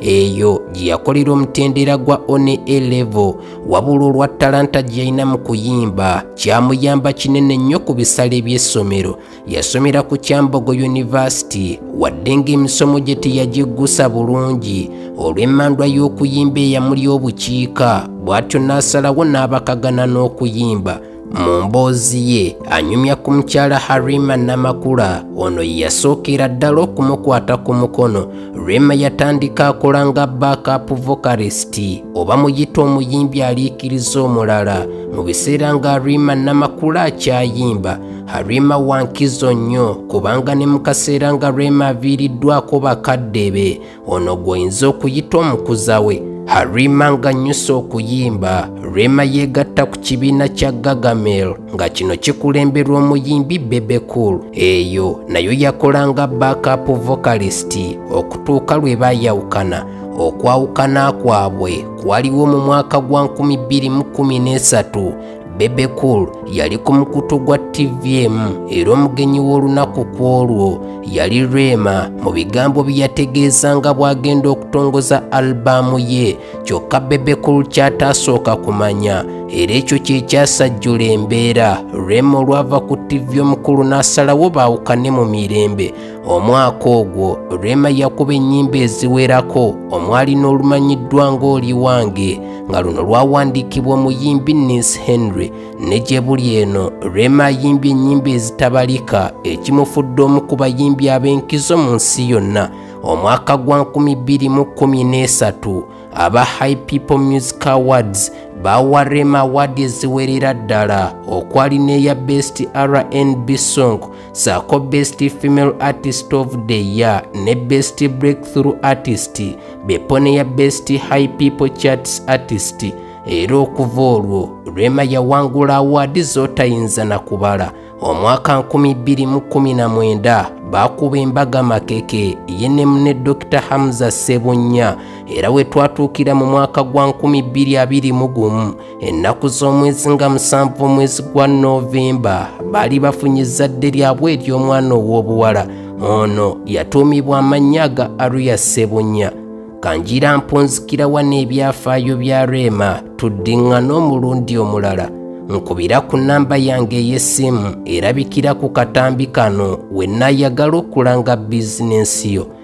eyo gye yakolera omutendera gwa one a level wabula olwa talanta gye yalina mu kuyimba kyamuyamba kinene nnyo ku bisale by'essomero yasomera ku kyambogo yunivasiti wadde ng'emisomo gye teyagiggusa bulungi olw'emmandwa y'okuyimba eyamuli obukiika bw'atyo n'asalawo n'abakagana n'okuyimba Mu mboozi ye anyumya ku mukyala Harima Namakula ono yasookera ddala okumukwata ku mukono. Rema yatandika akola nga backup vocalist oba muyita omuyimbi aliikiriza omulala mu biseera nga Harima Namakula akyayimba. Harima wa nkizo nnyo kubanga ne mu kaseera nga Rema aviiriddwako bakadde be ono gwoyinza okuyita omukuza we harima ng'annyusa okuyimba rema yeegatta ku kibiina kya gagamel nga kino kikulemberwa omuyimbi bebecool eyo nayo yakola nga backup vocalist okutuuka lwe baayawukana okwawukana kwabwe kwaliwo mu mwaka gwa 2013 Bebe Cool yali ku mukutu gwa TVM era omugenyi w'olunaku ku olwo yali Rema mu bigambo bye yategeeza nga bw'agenda okutongoza albaamu ye kyokka Bebe Cool ky'ataasooka kumanya era ekyo kye kyasajjula embeera Rema olwava ku TV omukulu n'asalawo baawukane mu mirembe Omwaka ogwo Rema yakuba ennyimba eziwerako omwali n'olumanyiddwa ng'oli wange nga luno lwawandiikibwa omuyimbi Nis Henry ne gye buli eno Rema ayimbye ennyimba ezitabalika ekimufudde omu ku bayimbi ab'enkizo mu nsi yonna omwaka gwa 2013 aba High People Music Awards baawa Rema awaadi eziwerera ddala okwali n'eya Best RNB Song saako best female artist of the year ne best breakthrough artist bepo neya best high people charts artist era okuva olwo rema yawangula awaadi zotayinza na kubala omwaka 219 baakuba embaga makeke ye ne mune dr hamza sebunnya era we twatuukira mu mwaka gwa 221 ennaku z'omwezi nga musanvu omwezi gwa novemba baali bafunye ezzadde lyabwe ery'omwana ow'obuwala ono yatuumibwa amannya ga aruya sebunya kanjira mpunzikirawa n'ebyafaayo bya reema tuddiŋŋana omulundi omulala nkubira ku nnamba yange ey'essimu erabikira ku katambi kano we nayagala okulanga bizinensi yo